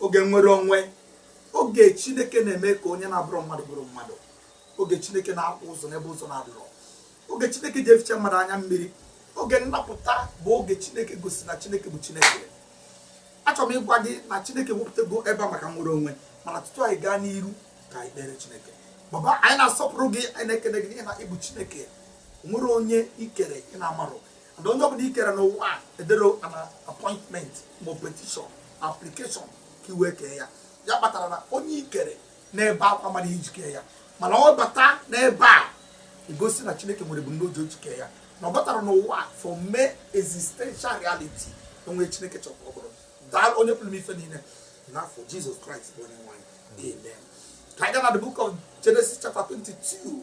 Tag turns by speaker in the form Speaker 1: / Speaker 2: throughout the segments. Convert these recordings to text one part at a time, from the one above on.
Speaker 1: oge nwere onwe oge chineke na-eme ka onye na-abụrọ mmadụ bụrụ mmadụ oge chineke na-akpụ ụzọ n'ebe ụzọ na-adịrọ oge chineke ji eficha mmadụ anya mmiri oge nnapụta bụ oge chineke gosi na chineke bụ chineke achọrọ m ịgwa gị na chineke wepụtago ebe a maka nwere onwe mana tutu anyị gaa n'iru ka anyị kpere chineke baba anyị na-asọpụrụ gị anyị na-ekele gị na ị bụ chineke nwerọ onye i kere ị na-amarọ na onye ọbụla i kere n'ụwa a ederọ an appointment ma petition application ka i wee kee ya ya kpatara na onye i kere n'ebe akwa mara i ji kee ya mana ọ bata n'ebe a egosi na chineke nwere ebumnobi o ji kee ya na ọ batara n'ụwa a for mee existential reality o nwe chineke chọrọ ka ọ bụrụ daa onye pụrụ ime ife niile n'afa jesus christ bụ onye nwe anyị amen ka anyị gaa na the book of genesis chapter 22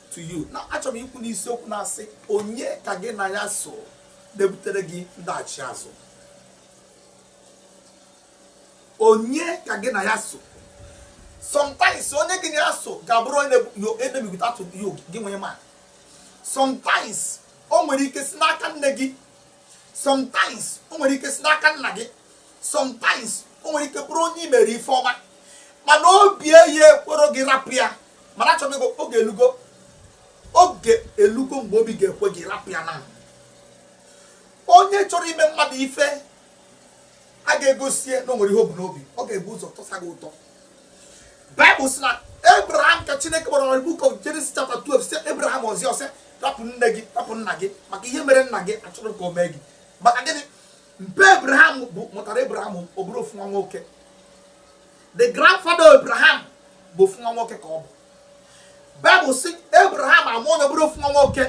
Speaker 1: to you now achọrọ m ikwu n'isiokwu na-asị onye ka gị na ya so na-ebutere gị ndaghachi azụ onye ka gị na ya so sometimes onye gị na ya so ga-abụrụ enemy gị tutu gị wee ma sometimes o nwere ike si n'aka nne gị sometimes o nwere ike si n'aka nna gị sometimes o nwere ike bụrụ onye i mere ife ọma mana obi eyi ekwerọ gị rapụ ya mana achọrọ m oge elugo oge elugo mgbe obi ga-ekwe gị rapụ ya na onye chọrọ ime mmadụ ife a ga-egosie na o nwere ihe o bu n'obi ọ ga-ebu ụzọ tọsa gị ụtọ bible sị na abraham ka chineke gwara na book of Genesis chapter 12 sị abraham ọzi ọsị rapụ nne gị rapụ nna gị maka ihe mere nna gị achọrọ ka o mee gị maka gịnị mpa abraham mụtara abraham ọ bụrụ ofu nwa nwoke the grandfather of abraham bụ ofu nwa nwoke ka ọ bụ bible sị abraham amụọ nwa ọ bụrụ ofu nwa nwoke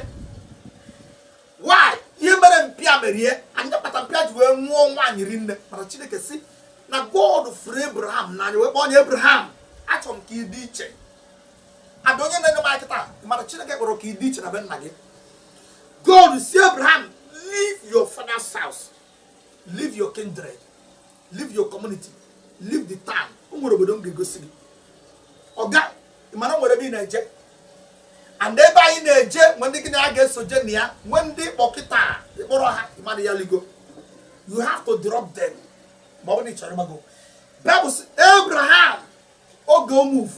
Speaker 1: why ihe mere mpa ya mere ya ya kpata mpa ya ji wee nụọ nwaanyị rinne mana chineke sị na god fụrụ abraham n'anya wee kpọọ onye abraham achọrọ m ka ị dị iche ada onye na-ege m kịta mana chineke chọrọ ka ị dị iche na be nna gị God sị Abraham, leave your father's house, leave your kindred, leave your community, leave the town. O nwere obodo m ga-egosi gị. Ọga, ị ma na o nwere ebe ị na-eje. And ebe anyị na-eje, nwe ndị gị na ya ga-esoje na ya, nwe ndị ị kpọ kịta ị kpọrọ ha ịmara ya ligo. You have to drop them. Ma ọ bụ na ị chọrọ ịgbago. Bible sị Abraham oge o move.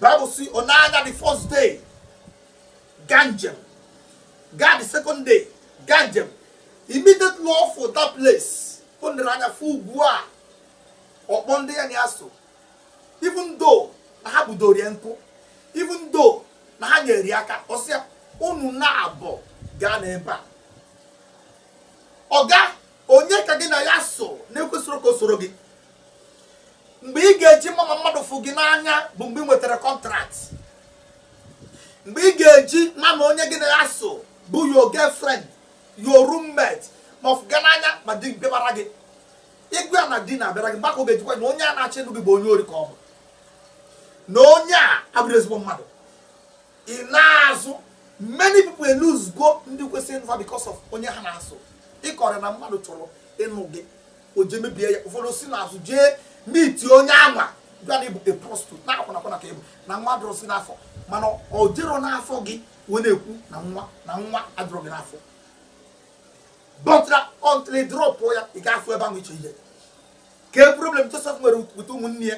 Speaker 1: Bible sị ọ na-aga the first day. gaa njem gaa the second day gaa njem immediately ọ fụ that place o nere anya fụ ugwu a ọ kpọọ ndị ya na ya so even though na ha budoro ya nkụ even though na ha nyere ya aka ọ sị ha unu naabọ ga-anọ ebe a ọga onye ka gị na ya so na-ekwesịrọ ka o soro gị mgbe ị ga-eji ma ma mmadụ fụ gị n'anya bụ mgbe ị nwetara contract mgbe ị ga-eji ma ma onye gị na ya so bụ your girlfriend your roommate ma ọ fụ gị n'anya ma di bịabara gị ị gwa ya na di na-abịara gị mgbe a ka ọ ga-eji kwuo na onye a na-achọ ịnụ gị bụ onye ori ka ọ bụ na onye a abụrọ ezigbo mmadụ ị na-azụ many people e-lose go ndị kwesịrị ịnụ fa because of onye ha na ya so ị kọrọ ya na mmadụ chọrọ ịnụ gị o jee mebie ya ụfọdụ si n'azụ jee meet onye anwa gwa ya na ị bụ a prostitute na akwụna akwụna ka ị bụ na nwa adịrọzi n'afọ mana o jerọ n'afọ gị wee na-ekwu na nwa na nwa adịrọ gị n'afọ but until ị drop ya ị ga-afụ ebe ahụ iche ihe kee problem Joseph nwere with ụmụnne ya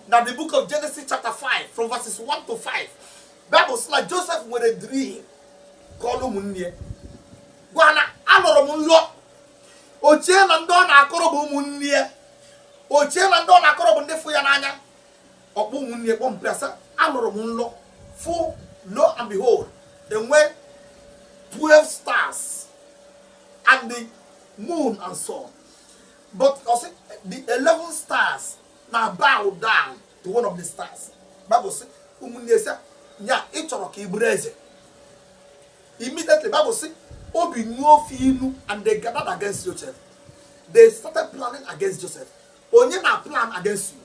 Speaker 1: na the book of Genesis chapter 5 from verses 1 to 5 Bible sị na Joseph nwere dream kọọlụ ụmụnne ya gwa na alọrọ m nlọ o chee na ndị ọ na-akọrọ bụ ụmụnne ya o chee na ndị ọ na-akọrọ bụ ndị fụ ya n'anya ọ kpọọ ụmụnne ya kpọmpịa sị alọrọ m nlọ fụ lo and behold e nwe 12 stars and the moon and sun but ọ sị the 11 stars na bow down to one of the stars bible sị ụmụnne ya sị ya ị chọrọ ka ị bụrụ eze Immediately, Bible sị, obi nuo fa inu, and they gathered against Joseph. They started planning against Joseph. Onye na plan against you.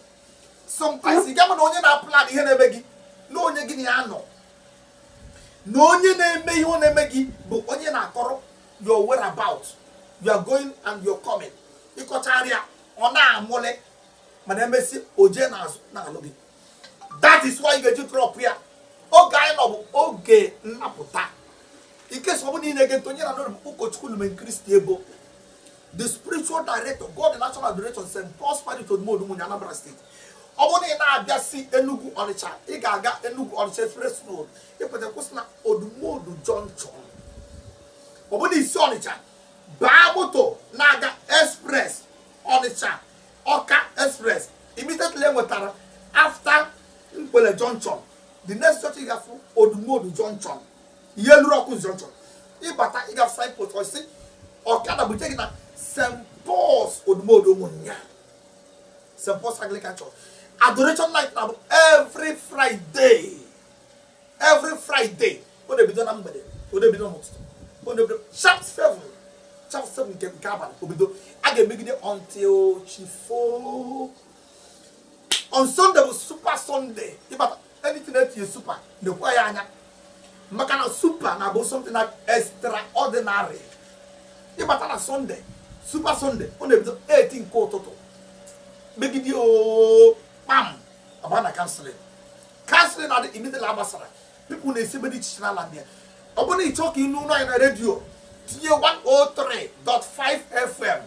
Speaker 1: Sometimes ị ga-ama na onye na plan ihe na-eme gị na onye gị na ya nọ. Na onye na-eme ihe ọ na-eme gị bụ onye ị na-akọrọ your whereabout, your going and your coming. Ị kọchaara ya ọ na-amụle mana emesịa o jee n'azụ na-alụ gị. that is why ị ga-eji drop ya. Oge anyị nọ bụ oge nnapụta. In case ọ bụrụ na ị na-ege ntị, onye ị na-anụ olu bụ ụkọchukwu Lumen Christi Ebo. The spiritual director, God in Action Adoration, St. Paul's Parish Odumodu Umunya Anambra State. ọ bụrụ na ị na-abịa si Enugu Ọnịcha ị ga-aga Enugu Ọnịcha express road ị pụta kwụsị na Odumodu junction ọ bụrụ na i si Ọnịcha baa moto na-aga express Ọnịcha ọka express immediately i nwetara after nkwele junction the next church ị ga-afụ odumodu junction i lurọ ọkụzụ junction ị bata ị ga-afụ signpost or sị ọkada bute gị na st paul's odumodu umunya st paul's anglican church adoration night na-abụ every friday every friday ọ na-ebido na mgbede ọ na-ebido n'ụtụtụ ọ na-ebido sharp seven sharp seven nke nke abalị o bido a ga-emegide until chi fo on sunday bụ super sunday ịbata anything e tinye super nekwaa ya anya maka na super na-abụ something na extraordinary ịbata na sunday super sunday ọ na-ebido 8 nke ụtụtụ megide oo kpam a baa na counselling counselling na-adị immediately a gbasara people na-esi ebe dị iche iche na-abịa ọ bụrụ na ị chọọ ka ị nụ olu anyị na redio tinye 103.5 fm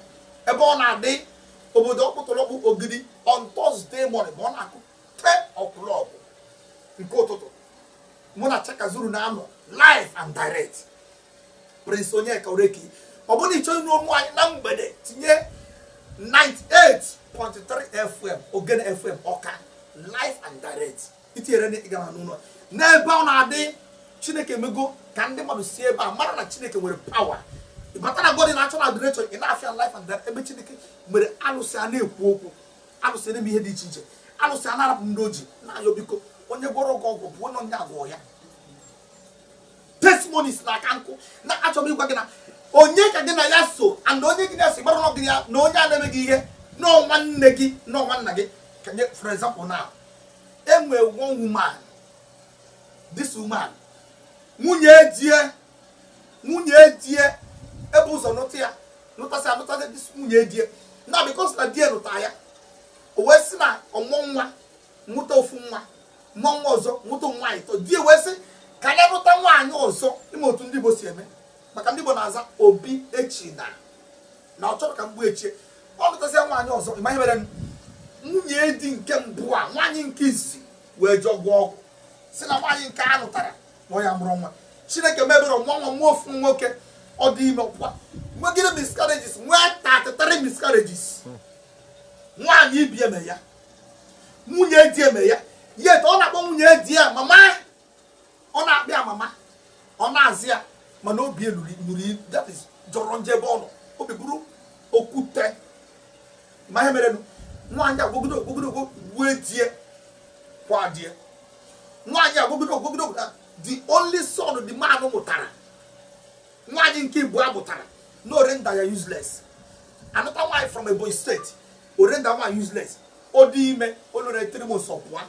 Speaker 1: ebe ọ na-adị obodo ọkpụtọrọkpụ ogidi on Thursday morning ma ọ na-akụ ten o'clock nke ụtụtụ mụ na Chaka Zuru na-anọ live and direct Prince Onyeka Oreki ọ bụrụ na ị chọọ ịnụ olu m na mgbede tinye 98.3 FM Ogene FM Ọka live and direct i tinyere na ị ga na-anụ n'ebe ọ na-adị Chineke mego ka ndị mmadụ si ebe a mara na Chineke nwere pawa ịbata na God in Action Adoration ị na-afụ ya live and direct ebe Chineke mere alụsị a na-ekwu okwu alụsị na-eme ihe dị iche iche alụsị a na-arapụ ndị o ji na-ayọ biko onye gwọrọ ọgwụ ọgwụ gbuo onye na-agwọ ya testimonies na aka nkụ na achọrọ m ịgwa gị na onye ka gị na ya so and onye gị na-esi gbara ọgụ ya na onye a na-eme gị ihe na ọ nwanne gị na ọ nwanna gị ka m nye for example now e nwee one woman this woman nwunye die nwunye die e bu ụzọ nụta ya nụtasịa nụtasịa this nwunye die na because na die nụta ya o wee sị na ọ mụọ nwa nwụta ofu nwa mụọ nwa ọzọ nwụta ụmụ nwaanyị atọ di wee sị ka ya lụta nwaanyị ọzọ ị ma otu ndị Igbo si eme maka ndị Igbo na-aza Obiechina na ọ chọrọ ka mgbu echie ọ lụtasịa nwaanyị ọzọ ị ma ihe mere nwunye di nke mbụ a nwaanyị nke isi wee jee gwọọ ọgwụ sị na nwaanyị nke a lụtara na ọ ya mụrụ nwa chineke mee ebere nwa nwa nwa ofu nwoke ọ dị ime ọkwa nwegide miscarriages nwee 33 miscarriages nwaanyị ibe ya mee ya nwunye di ya mere ya yet ọ na-akpọ nwunye di ya mama ọ na-akpọ ya mama ọ na-azị ya mana obi e luru unyi that is jọrọ njọ ebe ọ nọ obi bụrụ okwute ma ihe merenụ nwaanyị a gwọgide ọgwụ gwọgide ọgwụ gbue die kwaa die nwaanyị a gwọgide ọgwụ gwọgide ọgwụ na the only son the man mụtara nwaanyị nke ịbụa mụtara na ọ render ya useless another wife from Ebonyi state ọ render one useless ọ dị ime o lore three months ọ pụa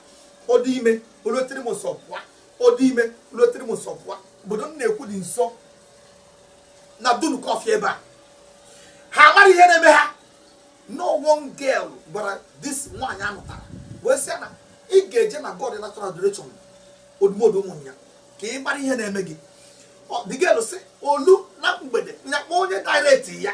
Speaker 1: ọ dị ime o lore three months ọ pụa ọ dị ime o lore three months ọ pụa obodo m na-ekwu dị nso na dunukofia ebe a ha mara ihe na-eme ha no one girl gwara this nwaanyị a nụtara wee sị ya na ị ga-eje na god natural adoration odumodu ụmụnya ka ị mara ihe na-eme gị Ọ- the girl sị o lu na mgbede nya kpọọ onye direct ya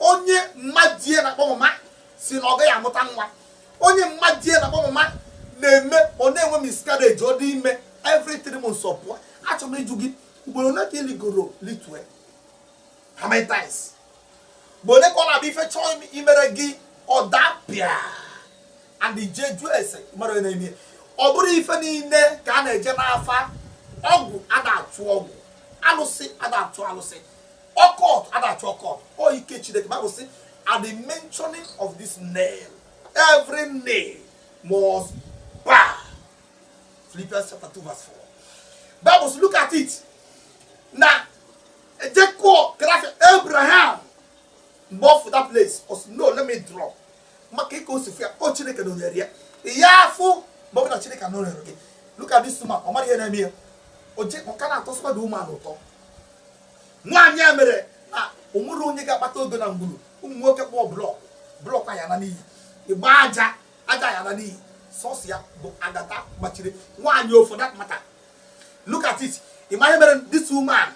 Speaker 1: onye mmadie na-akpọ mama si na ọ gaghị amụta nwa onye mmadie na-akpọ mama na-eme ọ na-enwe miscarriage ọ dị ime every three months ọ pụọ achọrọ m ịjụ gị ugboro ole ka ị ligoro litue how many times ugboro ole ka ọ na-abụ ife chọọ im- imere gị ọ dapịa and i je jụọ ese mara onye na-eme ya. ọ bụrọ ife niile ka a na-eje n'afa ọgwụ ada achụ ọgwụ alụsị ada achụ alụsị occult ada achụ occult ọ ike chineke bible sị at the mentioning of this name every name must bow philippians chapter 2 verse 4 bible sị look at it na ejekọ grafia abraham mgbe ọ fụ that place ọ sị no let me drop maka ịka o si fụ ya ọ chineke nọnyere ya ya afụ mgbe ọ bụla chineke nọnyere gị look at this woman ọ mara ihe na-eme ya o je ọ ka na-atọ sọmadụ ụmụ anụ ụtọ nwaanyị a mere na o nwerọ onye ga-akpata ego na ngwuru ụmụ nwoke kpụọ block block ya ana n'iyi ị gba aja aja ya ana n'iyi sọsọ ya bụ agata gbachiri nwaanyị for that matter look at it ị ma ihe mere this woman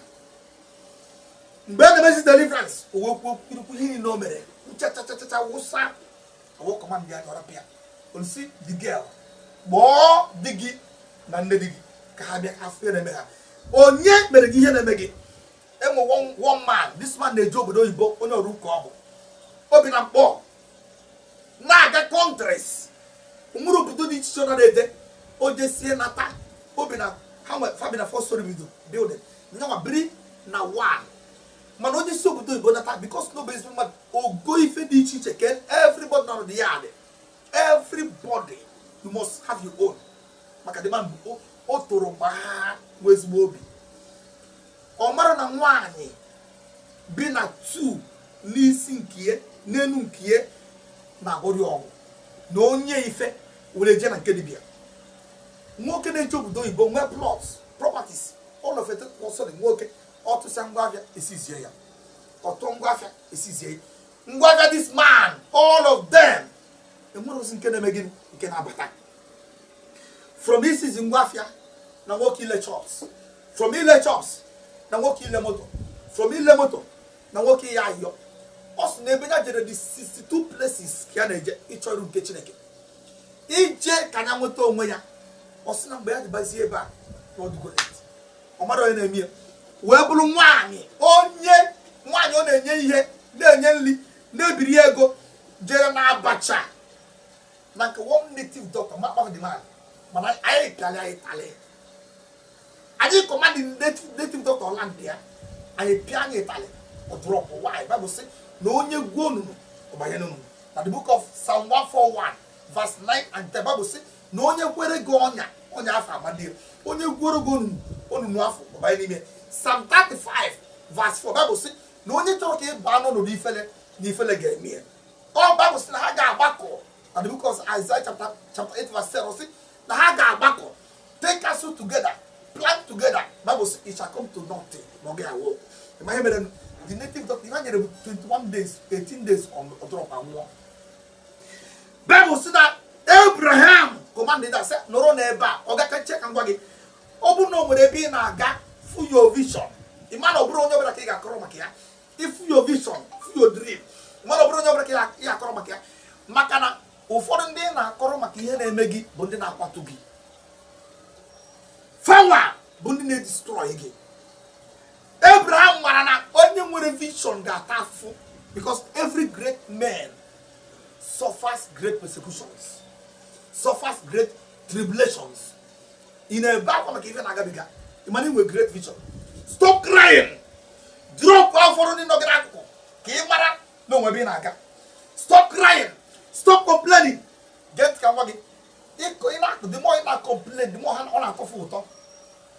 Speaker 1: mgbe a na-emezi deliverance o wee kwuo kwurukwu ihe niile o mere nchachachachacha wụsa e wee command ya tọrapụ ya o wee sị the girl kpọọ di gị na nne di gị ka ha bịa fụ ihe na-eme ha onye mere gị ihe na-eme gị e nwe one man this man na-eje obodo oyibo onye ọrụ ụka ọ bụ o bi na nkpọ na-aga countries nwere obodo dị iche iche ọ na-eje o jesie nata o bi na ha nwe fa bi na four storey bido building nya nwa biri na one mana onye si obodo oyibo nata because na ọ bụ ezigbo mmadụ o go ife dị iche iche kee everybody nọ the yard everybody you must have your own maka the man o toro gbaa nwee ezigbo obi ọ marọ na nwaanyị bi na two n'isi nkie n'elu nkie na-agwọrị ọgwụ na o nye ife were je na nke dibia nwoke na-eje obodo oyibo nwee plots properties all of it nwoke ọ tụsịa ngwa afịa esizie ya ọ tụọ ngwa afịa esizie ya ngwa afịa this man all of them enwerọzi nke na-eme gịnị nke na-abata from isizi ngwa afịa na nwoke ile shops from ile shops na nwoke ile moto from ile moto na nwoke ịyọ ayọ ọ sị na ebe ya jere dị 62 places ka ya na-eje ịchọ iru nke chineke ije ka ya nweta onwe ya ọ sị na mgbe ya dịbazie ebe a na ọ dịgo late ọ mara onye na-eme ya wee bụrụ nwaanyị onye nwaanyị ọ na-enye ihe na-enye nri na-ebiri ego jere na abacha na nke one native doctor ma kpafuo the man mana anyị ịtalị anyị ịtalị anyị command native doctor ọ landịa anyị pịa ya ịtalị ọ drop nwaanyị Bible sị na onye gwuo onunu ọ banye n'onunu na the book of psalm 141 verse 9 and 10 Bible sị na onye kwere gị ọnya ọnya afụ amado ya onye gwuuru gị onunu afụ ọ banye n'ime psalm 35 verse 4 Bible sị na onye chọrọ ka ị baa n'ọnọdụ ifele na ifele ga-eme ya ọ Bible sị na ha ga-agbakọ na the book of Isaiah chapter chapter 8 verse 7 sị na ha ga-agbakọ take counsel together plan together Bible sị it shall come to nothing ma ọ ga-awụ ị ma ihe mere the native doctor ihe ha nyere bụ 21 days 18 days ọ drop ma nwụọ Bible says that Abraham commanded ha sị nọrọ n'ebe a ọ gaka nche ka m gwa gị ọ bụrụ na o nwere ebe ị na-aga fụ your vision ị ma na ọ bụrọ onye ọbụla ka ị ga-akọrọ maka ya ị fụ your vision fụ your dream ị ma na ọ bụrọ onye ọbụla ka ị ga-akọrọ maka ya maka na ụfọdụ ndị ị na-akọrọ maka ihe na-eme gị bụ ndị na-akwatu gị fawa bụ ndị na-edestroy gị Abraham mara na onye nwere vision ga-ata afụ because every great man suffers great persecutions suffers great tribulations ị na-ebe akwa maka ife na-agabiga ị ma na i nwere great vision stop crying drop ụfọdụ ndị nọ gị n'akụkụ ka ị mara na o nwe ebe ị na-aga stop crying stop complaining get ka m gwa gị ịkọ ị na-akụ the more ị na-ecomplain the more ọ na-atọ fa ụtọ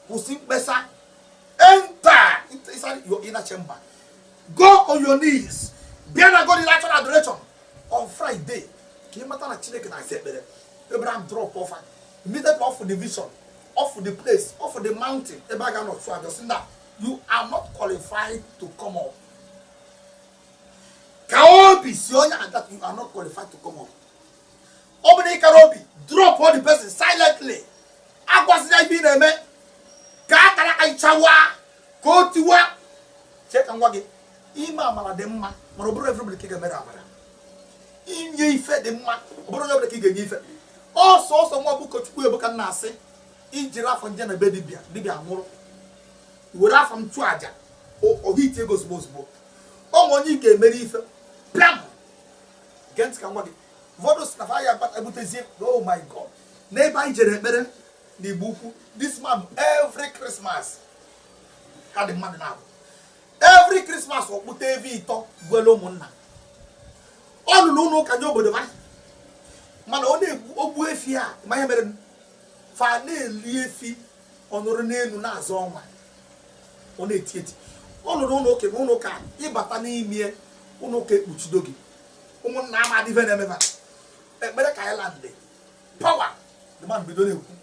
Speaker 1: kwụsị mkpesa enter inside your inner chamber go on your knees bịa na god in action adoration on friday ka ị mata na chineke na-aza ekpere abraham drop fa immediately ọ fụ the vision ọ fụ the place ọ fụ the mountain ebe a ga-anọ chụọ aja ọ sị na you are not qualified to come up ka obi sị onye a that you are not qualified to come up ọ bụrụ ị kara obi dropụọ the person silently agwazila ya ife ị na-eme ka akaraka gị chawa ka o tiwa chee ka m gwa gị ime amara dị mma mana ọ bụrọ everybody ka ị ga-emere amara inye ife dị mma ọ bụrọ everybody ka ị ga-enye ife ọsọ ọsọ nwa bụ ụkọchukwu ebuka na-asị i jiri afọ m je na be dibịa dibịa nwụrụ were afọ m chụọ aja o hit ego ozugbo ozugbo o nwe onye ị ga-emere ife pịam gee ntị ka m gwa gị ụfọdụ sị na fa ya abata ebutezie oh my god n'ebe anyị jere ekpere na igbo ukwu this man every christmas ka the man na-abụ every christmas ọ kpụta efi ịtọ gbuelu ụmụnna ọ lụrụ ụlọ ụka nye obodo ha mana ọ na-egbu ogbu efi a ma ihe mere fa na-eli efi ọ nụrụ n'elu na-azọ ọnwa ọ na-eti eti ọ lụrụ ụlọ oke ma ụlọ ụka ị bata n'ime ụlọ ụka ekpuchido gị ụmụnna ama adịve na-emeba ekpere ka anyị landị power the man bido na-ekwu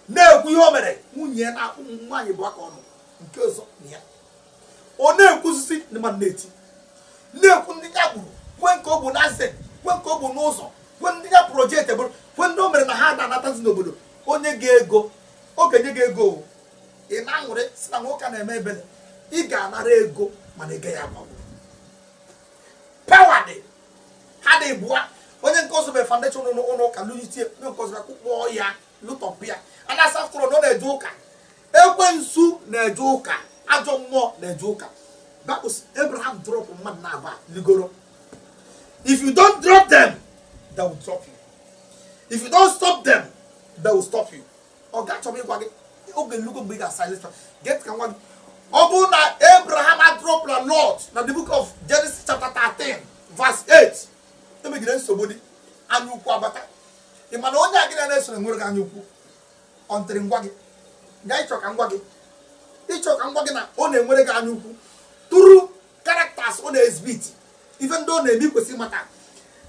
Speaker 1: na-ekwu ihe o mere nwunye na ụmụ nwaanyị bụ aka ọnụ nke ọzọ na ya ọ na-ekwusisi the man na-eti na-ekwu ndị ya gburu kwue nke o gbu n'ezi kwue nke o gbu n'ụzọ kwue ndị ya project gburu kwue ndị o mere na ha ada anatazi n'obodo o nye gị ego ọ ga-enye gị ego o. ị na-aṅụrị sị na nwoke a na-eme ebele ị ga-anara ego mana ị gaghị agbanwe power dị ha dị bụa onye nke ọzọ mere foundation ụlọ ụlọ ụka lụnyitie onye nke ọzọ bịa kụkpọọ ya lụtọpụ ya a na-asị after all na ọ na-eje ụka ekwensu na-eje ụka ajọ mmụọ na-eje ụka because abraham drop mmadụ na aba ligoro if you don't drop them they will drop you if you don't stop them they will stop you ọ ga-achọba ịgwa gị oge elugo mgbe ị ga-asilence gee ntị ka m gwa gị ọ bụrụ na abraham adropla lot na the book of genesis chapter 13 verse 8 emegide nsogbu dị anya ukwu abata ị ma na onye a gị na-esoro nwere gị anya ukwu until m gwa gị nga ị chọ ka m gwa gị ị chọ ka m gwa gị na ọ na-enwere gị anya ukwu through characters ọ na-exhibit ife ndị ọ na-eme i kwesị mata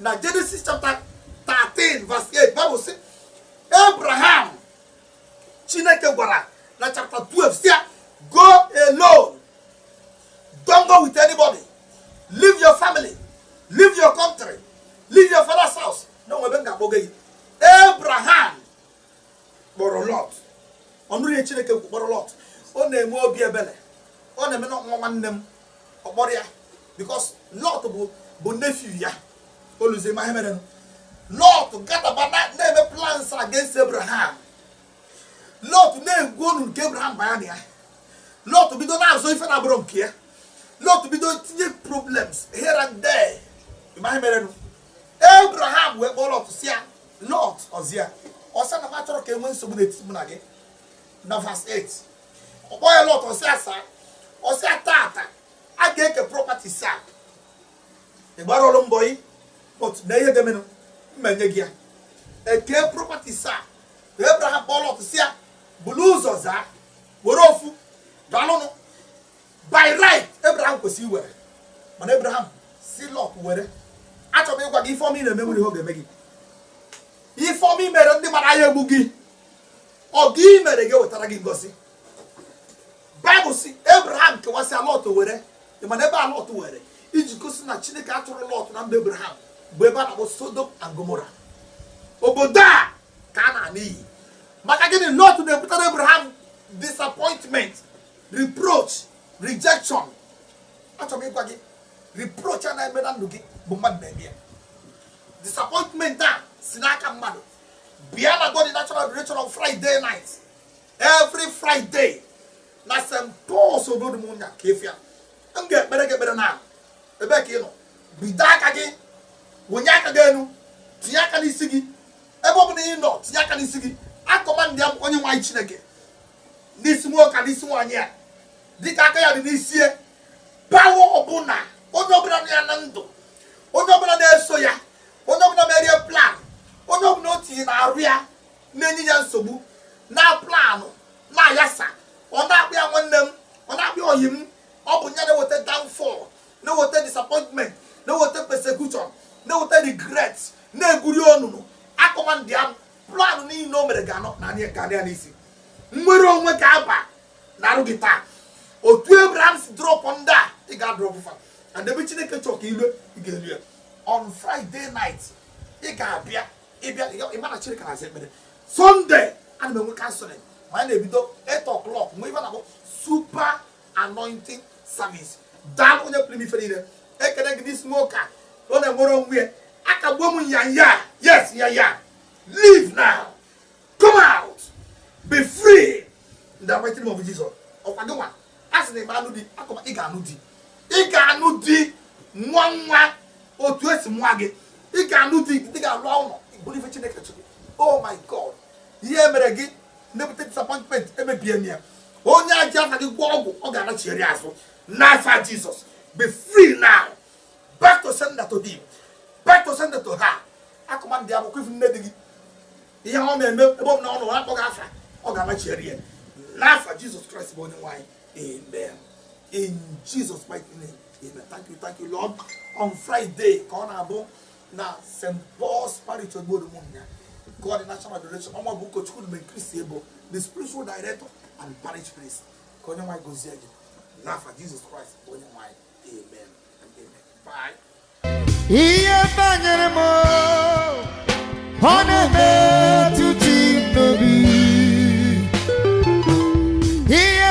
Speaker 1: na genesis chapter 13 verse 8 Bible sị abraham chineke gwara na chapter 12 sị ya go alone don't go with anybody leave your family leave your country leave your father's house na o nwe ebe m ga-akpọga gị abraham kpọrọ lọt ọ nụrụ ihe chineke kwu kpọrọ lọt ọ na-enwe obi ebele ọ na-eme na nwa nwanne m ọ kpọrọ ya because lọt bụ nephew ya o luzie ma ihe merenụ lọt gadaba na-eme plans against abraham lọt na-egwu ọnụ nke abraham baya na ya lọt bido na-azọ ife na-abụrọ nke ya lọt bido tinye problems here and there ma ihe merenụ abraham wee kpọọ lọt sị ya Lọt ọ sị ya ọ sị na m achọrọ ka e nwee nsogbu n'etiti mụ na gị na verse 8 ọ kpọọ ya lọt ọ sị ya sa ọ sị ya taa taa a ga-eke properties a ị gbarọlụ m bọyị but na ihe ga-emenụ mmenye gị ya e kee properties a Abraham kpọọ lọt sị ya bulu ụzọ zaa were ofu dalụnụ by right Abraham kwesịrị iwere mana Abraham sị Lọt were achọrọ m ịgwa gị ife ọma ị na-eme nwere ihe ọ ga-eme gị ife ọma i mere ndị mara ya egbu gị ọgọ i mere ga-ewetara gị ngozi baịbụl sị Abraham kewasịa Lọt were mana ebe a Lọt were iji gosi na Chineke achọrọ Lọt na mba Abraham bụ ebe a na-akpọ Sodom and Gomorrah obodo a ga-ana n'iyi maka gịnị Lọt na-ebutara Abraham disappointment reproach rejection achọrọ m ịgwa gị reproach a na-eme na ndụ gị bụ mmadụ na-eme ya disappointment a si n'aka mmadụ bịa na God in Action Adoration on Friday night every Friday na St. Paul's Odume nya ka efi ya m ga-ekpere gị ekpere na ebe ka ị nọ bido aka gị wenie aka gị enu tinye aka n'isi gị ebe ọ bụla ị nọ tinye aka n'isi gị akọmandịa m onyenwe anyị Chineke n'isi nwoke n'isi nwaanyị a dịka aka ya dị n'isi ya power ọbụla onye ọbụla nọ ya na ndụ onye ọbụla na-eso ya onye ọbụla mere ya plan onye ọbụla o tinye n'arụ ya na-enye ya nsogbu na plan na-ayasa ọ na-akpọ ya nwanne m ọ na-akpọ ya ọyị m ọ bụ ya na-eweta downfall na-eweta disappointment na-eweta persecution na-eweta regret na-egwuru ya onunu akọmandịa m plan niile o mere ga-anọ na anyị ka ya n'isi nnwere onwe ga-aba n'arụ gị taa otu abraham si drọpụ ndị a ị ga-adrọpụ fa and ebe chineke chọọ ka i lu ị ga-elu ya on friday night ị ga-abịa ị bịa ị ma na chineke na-aza ekpere sunday ana m enwe counseling ma a na-ebido 8 o'clock nwe ife a na-akpọ super anointing service daa onye pụrụ ife niile ekele gị n'isi nwoke a ọ na-enwere onwe ya akagbuo m ya ya yes ya ya leave now come out be free in the mighty name of Jesus ọ kwa gị nwa a sị na ị ma anụ di akọba ị ga-anụ di ị ga-anụ di ngwa ngwa otu e si mụa gị ị ga-anụ di ị ga-alụ ụnọ bụrụ ife Chineke chọrọ oh my God ihe e mere gị na-ebute disappointment emebie m ya onye e ji afa gị gwọọ ọgwụ ọ ga-anachigharị azụ n'afa jizọs be free now back to sender to thee back to sender to her akụma ndị akwụkwọ ị fụ nne di gị ihe ọ na-eme ebe ọ bụla ọ nọ ọ na-akpọ gị afa ọ ga-anachigharị ya n'afa jizọs kraịst bụ onyenwe anyị amen in jesus mighty name amen thank you thank you lord on friday ka ọ na-abụ na st paul's parish obodo ụmụnya god international adoration ọ mụ bụ ụkọchukwu mgbe kristi ebo the spiritual director and parish priest ka onyenwe anyị gozie gị n'afa jizọs kraịst bụ onyenwe anyị amen and amen bye
Speaker 2: ihe banyere mụ na-emetụ chi m n'obi ihe